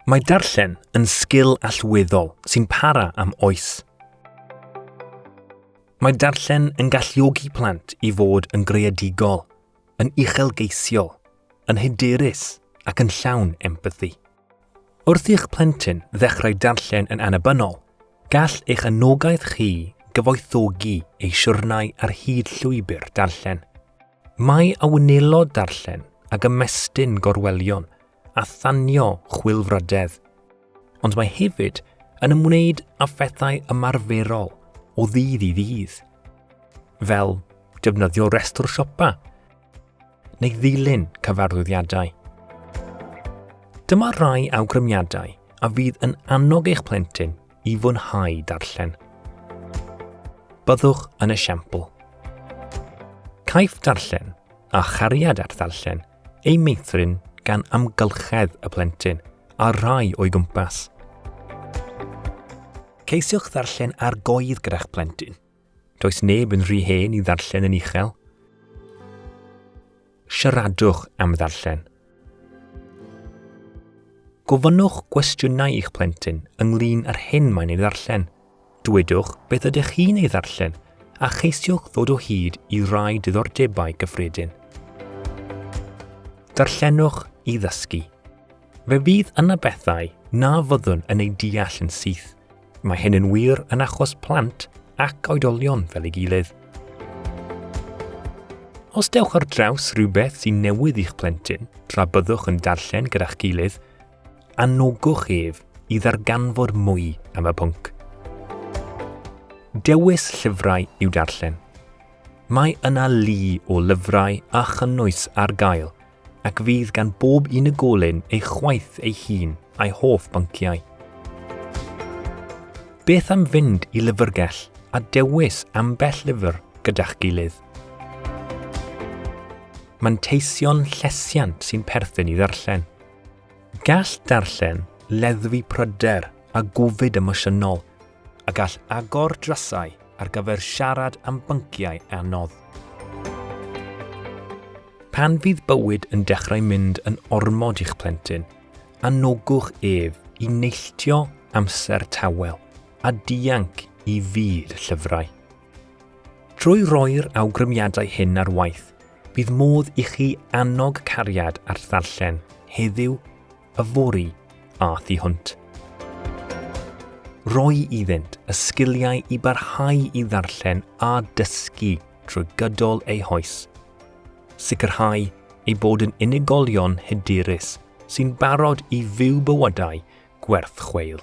Mae darllen yn sgil allweddol sy'n para am oes. Mae darllen yn galluogi plant i fod yn greadigol, yn uchelgeisiol, yn hyderus ac yn llawn empathi. Wrth i'ch plentyn ddechrau darllen yn annibynnol, gall eich anogaeth chi gyfoethogi ei siwrnau ar hyd llwybr darllen. Mae a wnelo darllen ag ymestyn gorwelion a thanio chwilfrydedd, ond mae hefyd yn ymwneud â phethau ymarferol o ddydd i ddydd, fel defnyddio restr siopa neu ddilyn cyfarwyddiadau. Dyma rai awgrymiadau a fydd yn annog eich plentyn i fwynhau darllen. Byddwch yn esiampl. Caiff darllen a chariad at ddarllen ei meithrin gan amgylchedd y plentyn a rhai o'i gwmpas. Ceisiwch ddarllen ar goedd gyda'ch plentyn. Does neb yn rhy hen i ddarllen yn uchel. Siaradwch am ddarllen. Gofynnwch gwestiynau i'ch plentyn ynglyn â'r hyn mae'n ei ddarllen. Dwedwch beth ydych chi'n ei ddarllen a cheisiwch ddod o hyd i rai diddordebau gyffredin. Darllenwch i ddysgu. Fe fydd yna bethau na fyddwn yn ei deall yn syth, Mae hyn yn wir yn achos plant ac oedolion fel ei gilydd. Os dewch ar draws rhywbeth sy'n newydd i'ch plentyn tra byddwch yn darllen gyda'ch gilydd, anogwch ef i ddarganfod mwy am y pwnc. Dewis llyfrau i'w darllen. Mae yna lu o lyfrau a chynnwys ar gael – ac fydd gan bob unigolyn ei chwaith ei hun a'i hoff bynciau. Beth am fynd i lyfrgell a dewis ambell lyfr gyda'ch gilydd? Manteision llesiant sy'n perthyn i ddarllen. Gall darllen leddfu pryder a gofid emosiynol a gall agor drysau ar gyfer siarad am bynciau anodd. Pan fydd bywyd yn dechrau mynd yn ormod i'ch plentyn, anogwch ef i neilltio amser tawel a dianc i fyd llyfrau. Trwy roi'r awgrymiadau hyn ar waith, bydd modd i chi annog cariad at ddarllen heddiw Yfory a thu hwnt. Rhoi iddynt y sgiliau i barhau i ddarllen a dysgu trwy gydol eu hoes. Sicrhau eu bod yn unigolion hyderus sy'n barod i fyw bywydau gwerth chweil.